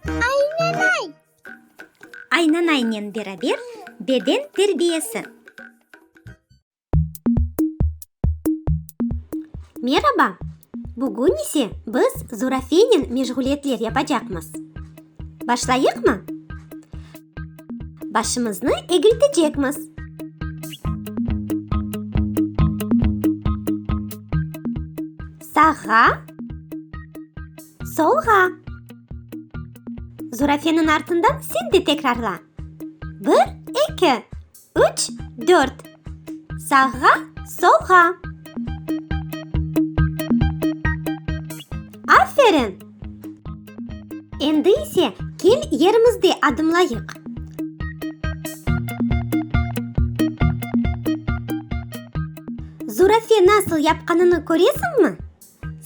Aynanay. Aynanaynen beraber beden terbiyesi. Meraba. Bugün ise biz Zurafiynen meşğuliyetler yapacaqmız. Başlayıqmı? Başımıznı egiltecekmiz. Sağğa. Solğa. Zurafeniñ artından sen de tekrarla. Bir, eki. Üç, dört. Sağğa, solğa. Aferin! Endi ise kel yerimizde adımlayıq. Zurafe nasıl yapqanını köresiñmi?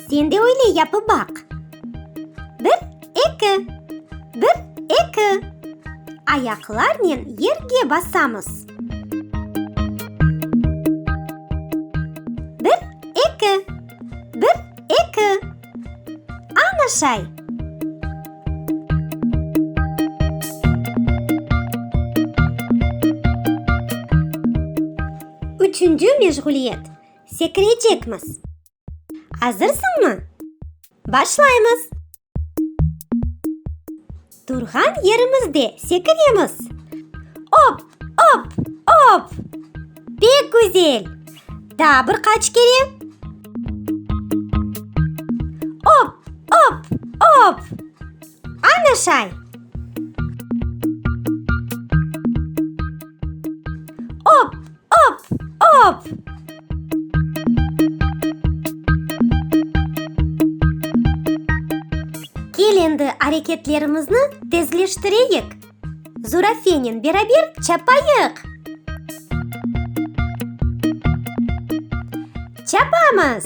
Sen de öyle yapıp baq. Bir, eki. Bir, eki. Ayaqlarnen yerge basamız. Bir, eki. Bir, eki. Ana şay. Üçüncü meşğuliyet, sekirecekmiz. Azırsıñmı? Başlaymız! Turğan yerimizde sekiremiz. Op, op, op! Pek güzel! Daa bir qaç kere. Op, op, op! Ana şay! Op, op, op! Kel endi areketlerimizni tezleştireyik. Zurafenen beraber çapayıq! Çapamız!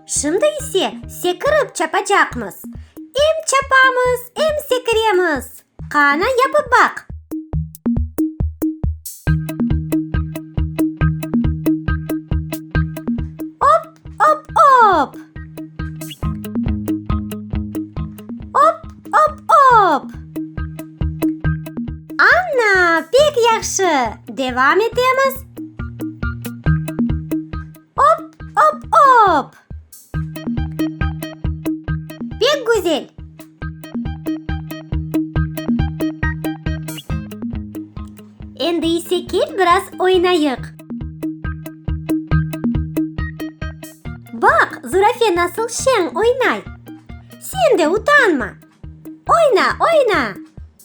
Şimdi ise sekirip çapacaqmız. Em çapamız, em sekiremiz. Qana yapıp baq! Op, op, op! Op, op, op! Ana, pek yahşı! Devam etemiz. Op-op-op! Pek güzel! Endi ise kel biraz oynayıq. Baq, zurafe nasıl şeñ oynay! Sen de utanma! Oyna, oyna!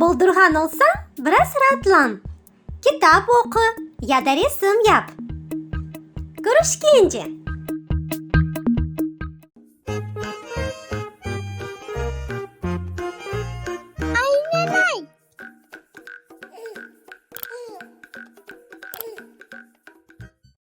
Boldurğan olsañ, biraz raatlan, kitap oqu ya da resim yap. Körüşkence!